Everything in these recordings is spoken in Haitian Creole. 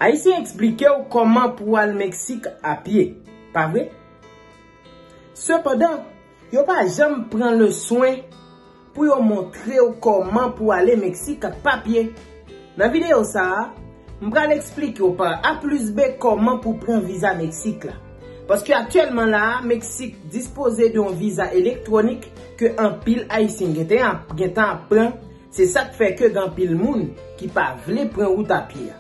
Ayisyen eksplikew kòman pou al Meksik a pye, pa vre? Sepandan, yo pa janm pran le swen pou yo montrew kòman pou ale Meksik ak papye. Nan videyo sa a, m pral eksplikew pa A plis B kòman pou pran viza Meksik la. Paske aktyèlman la a, Meksik dispoze de yon viza elektwonik ke anpil Ayisyen gentan ap pran. Se sa k fè ke gen anpil moun ki pa vle pran wout a pye a.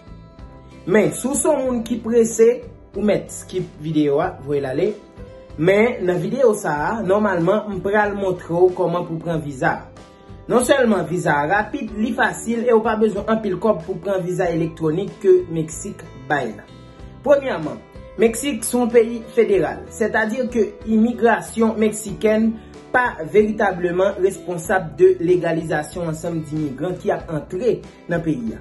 Men, si w se yon moun ki prese, ou mèt skip videyo a, voye l ale. Men, nan videyo sa a, nòmalman, m pral montre w kòman pou w pran viza a. Non sèlman viza a rapid, li fasil e ou pa bezwen anpil kòb pou pran viza elektwonik ke Meksik bay la. Premyèman, Meksik se yon peyi federal, sètadi ke imigrasyon meksikèn pa veritableman responsab de legalizasyon ansanm dimigran ki ap antre nan peyi a.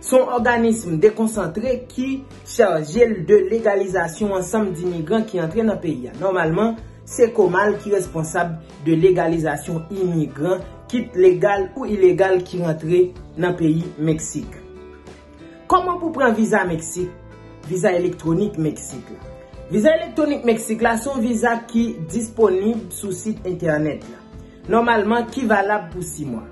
Se yon òganism dekonsantre ki chaje l de legalizasyon ansanm dimigran ki antre nan peyi a. Nòmalman, se Comal ki responsab de legalizasyon imigran, kit legal ou ilegal, ki rantre nan peyi Meksik. Kòman pou pran viza Meksik? Viza Elektronik Meksik la Viza Elektronik Meksik la se yon viza ki disponib sou sit entènèt la, nòmalman ki valab pou 6 mwa.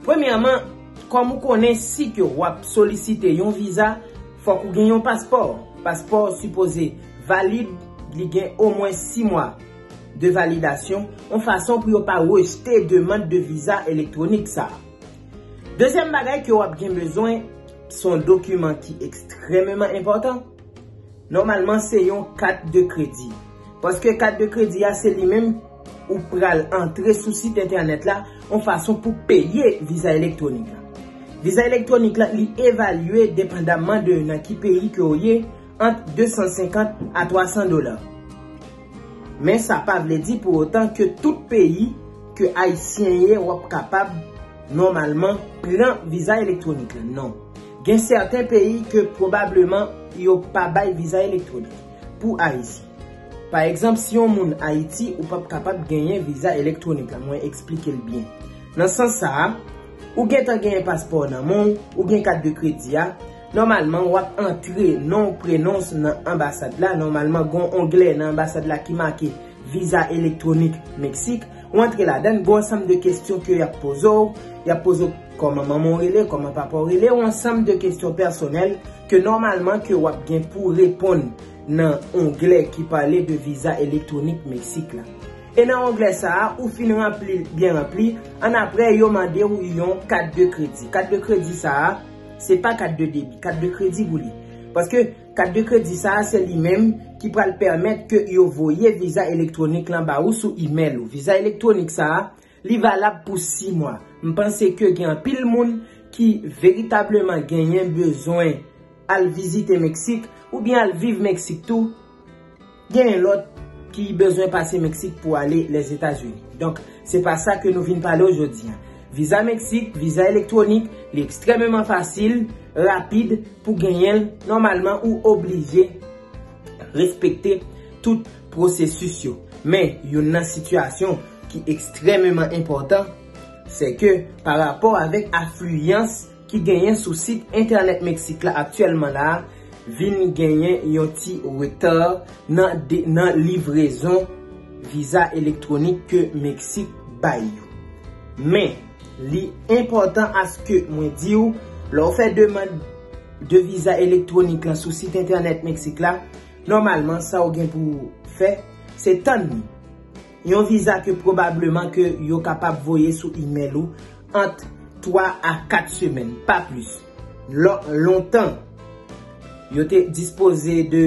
Premyèman, kòm ou konnen si ke w ap solisite yon viza, fòk ou gen yon paspò. Paspò ou sipoze valib, li gen omwen 6 mwa de validasyon, yon fason pou yo pa rejte demand de viza elektronik sa a. Dezyèm bagay ke wap gen bezwen, son dokiman ki ekstrememan enpòtan, nòmalman se yon kat de kredi. Paske kat de kredi a se li menm ou pral antre sou sit entènèt la yon fason pou peye viza elektwonik la. Viza elektwonik la li evalye depandamman de nan ki peyi ke ou ye ant 250 a 300 dola. Men sa pa vle di pou otan ke tout peyi ke Ayisyen ye wap kapab nòmalman pran viza elektwonik la non. Gen sèten peyi ke pwobableman yo pa bay viza elektwonik pou Ayisyen. Pa egzanp si yon moun Ayiti ou pap kapab genyen viza elektwonik la mwen eksplike l byen. Nan sans sa a, ou gentan genyen paspò w nan men w, ou gen kat de kredi a, Nòmalman wap antre non w prenon s nan anbasad la, nòmalman gon onglè nan anbasad la ki make viza elektronik Meksik, ou antre ladann, gon ansanm de kestyon ke yap poze w, yap poze w kòman manman w rele, kòman papa w rele, ou ansanm de kestyon pèsonèl ke nòmalman ke wap gen pou reponn nan onglè ki pale de viza elektronik Meksik la. E nan onglè sa a, ou fin ranpli l byen ranpli, annapre yo mande w yon kat de kredi. Kat de kredi sa a. Se pa kat de debi, kat de kredi pou li. Paske kat de kredi sa a se li menm ki pral pèmèt ke yo voye viza elektwonik lan ba ou sou imèl ou. Viza elektwonik sa a, li valab pou 6 mwa. M panse ke gen anpil moun ki veritableman genyen bezwen al vizite Meksik oubyen al viv Meksik tou. Genyen lot ki bezwen pase Meksik pou ale Lèzetazini. Donk, se pa sa ke nou vin pale ojodi an. Viza Meksik, viza elektwonik, li ekstrememan fasil, rapid pou genyen l. Nòmalman, ou oblije respekte tout pwosesis yo. Men, youn nan sitiyasyon ki ekstrememan enpòtan, se ke pa rapò avèk afliyans ki genyen sou sit entènèt Meksik la aktyèlman la a vin genyen yon ti retà nan livrezon viza elektwonik ke Meksik bay yo. Men, li enpòtan aske mwen di w, lè w fè demand de viza elektwonik lan sou sit entènèt Meksik la, nòmalman sa w gen pou w fè, se tann li. Yon viza ke pwobableman ke yo kapab voye sou imèl ou ant 3 a 4 semèn, pa plis. Lò, lontan, yo te dispoze de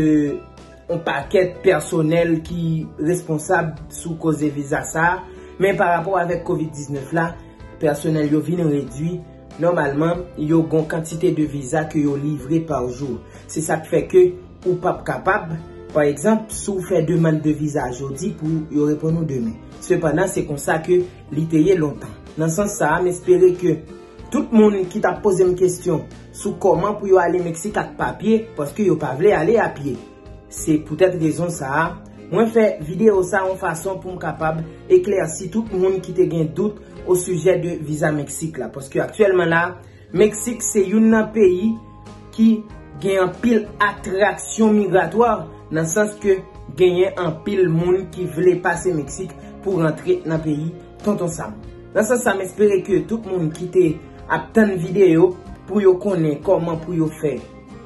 yon pakèt pèsonèl ki responsab sou koze viza sa a, men pa rapò avèk Covid 19 la, pèsonèl yo vin redui, Nòmalman, yo gon kantite de viza ke yo livre par jou. Se sak fè ke ou pap kapab, pa egzanp, si w fè demand de viza jodi pou yo reponn ou demen. Sepandan, se konsa ke li te ye lontan. Nan sans sa a, m espere ke tout moun ki tap poze m kestyon sou kòman pou yo ale Meksik ak papye, paske yo pa vle ale a pye. Se poutèt rezon sa a, mwen fè videyo sa yon fason pou m kapab eklèsi tout moun ki te gen dout osijè de viza Meksik la. Paske aktyèlman la, Meksik se youn nan peyi ki gen anpil atraksyon migratwa, nan sans ke genyen anpil moun ki vle pase Meksik pou rantre nan peyi Tonton Sam. Nan sans sa, m espere ke tout moun ki te ap tann videyo pou yo konnen kòman pou yo fè.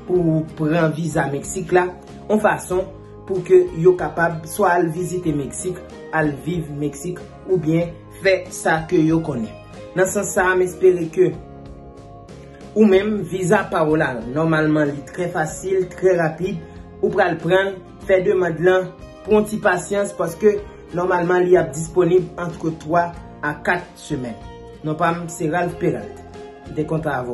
pou pran viza Meksik la yon fason pou ke yo kapab swa al vizite Meksik, al viv Meksik oubyen fè sa ke yo konnen. Nan sans sa a m espere ke ou menm viza pa w la nòmalman li trè fasil, trè rapid, ou pral pran l, fè demand lan, pran ti pasyans paske nòmalman li ap disponib antre 3 a 4 semèn. Non pa m se Ralph Peralt. Dekontan avò.